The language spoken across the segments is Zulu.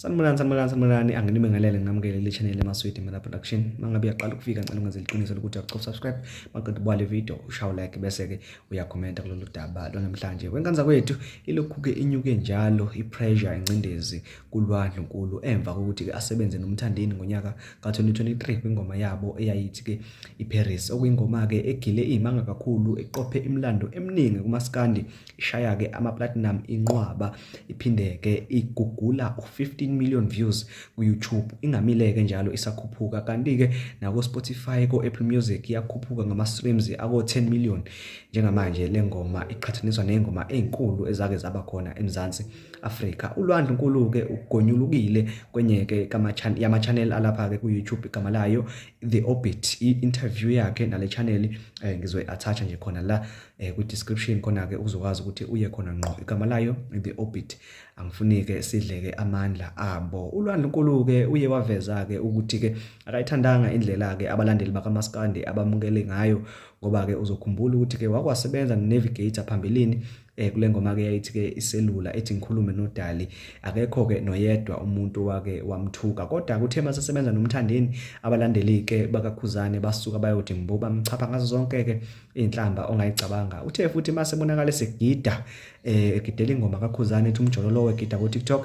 Sanibonani sanibonani sanibonani anginibingelele nginamukele le channel emaswidi mina production mangabe uyaqala ukufika ngicela ungenze liqiniso lokuthi uyacofa subscribe maqeda ubale video ushawu like bese ke uyakhomenta kulolu daba lwanamhlanje wenkanza kwethu ilokhu ke inyuke njalo ipressure incindezi kulwa ndlunkulu emva kokuthi ke asebenze nomthandeni ngonyaka ka2023 kwingoma yabo eyayithi ke iParis okuyingoma ke egile imanga kakhulu eqophe imlando eminingi kumaskandi ishaya ke ama platinum inqwaba iphinde ke igugula u15 million views ku YouTube ingamile ke njalo isakhuphuka kanti ke nako Spotify ko Apple Music iyakhuphuka ngama streams ako 10 million njengamanje lengoma iqhathaniswa nezingoma ezinkulu ezake zaba khona eMzansi Afrika uLwandle Nkulu ke ugonyulukile kwenye ke kama channel yama channel alapha ke ku YouTube igama layo The Orbit i interview yakhe nale channel eh, ngizoyi attach nje khona la eh, kwi-description khona-ke uzokwazi ukuthi uye khona ngqo igama layo the orbit angifunike sidleke amandla abo ulwandle nkulu-ke uye waveza-ke ukuthi-ke akayithandanga indlela-ke abalandeli bakamaskandi abamukele ngayo ngoba-ke uzokhumbula ukuthi-ke wakwasebenza nonavigator phambilini eh kule ngoma ke yayithi ke iselula ethi ngikhulume nodali akekho ke noyedwa umuntu wake wamthuka kodwa kuthe masesebenza nomthandeni abalandeli ke bakakhuzane basuka bayothi mbuba mchapha ngazo zonke ke inhlamba ongayicabanga uthe futhi mase bonakala segida eh, egidela ingoma kakhuzane ethi umjololo wegida ku TikTok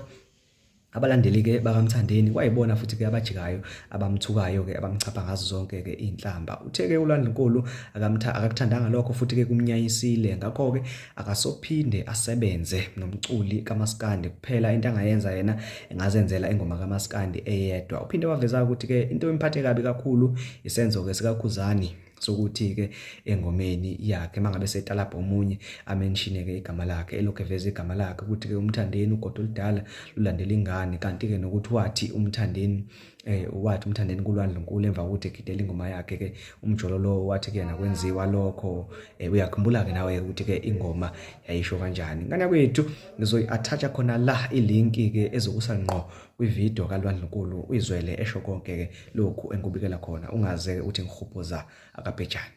abalandeli ke bakamthandeni kwayibona futhi ke abajikayo abamthukayo ke abamchapha ngazo zonke ke inhlamba uthe ke ulandlunkulu akamtha akakuthandanga lokho futhi ke kumnyayisile ngakho ke akasophinde asebenze nomculi kamaskandi kuphela into angayenza yena engazenzela ingoma kamaskandi eyedwa uphinde waveza ukuthi ke into emphathe kabi kakhulu isenzo ke sikakhuzani sokuthi-ke engomeni yakhe uma ngabe setalabha omunye amenshine-ke igama lakhe elokhu eveza igama lakhe ukuthi-ke umthandeni ugoda oludala lulandela ingane kanti-ke nokuthi wathi umthandeni eh wathi umthandeni kulwandle nkulu emva kokuthi egidela ingoma yakhe ke umjolo lo wathi kuyena kwenziwa lokho eh uyakhumbula ke nawe ukuthi ke ingoma yayisho kanjani ngane kwethu ngizoyi attach khona la ilink ke ezokusa ngqo Kwividiyo kaLwandlunkulu uyizwele esho konke-ke lokhu engikubikela khona, ungaze-ke uthi ngihubhuza akabhejane.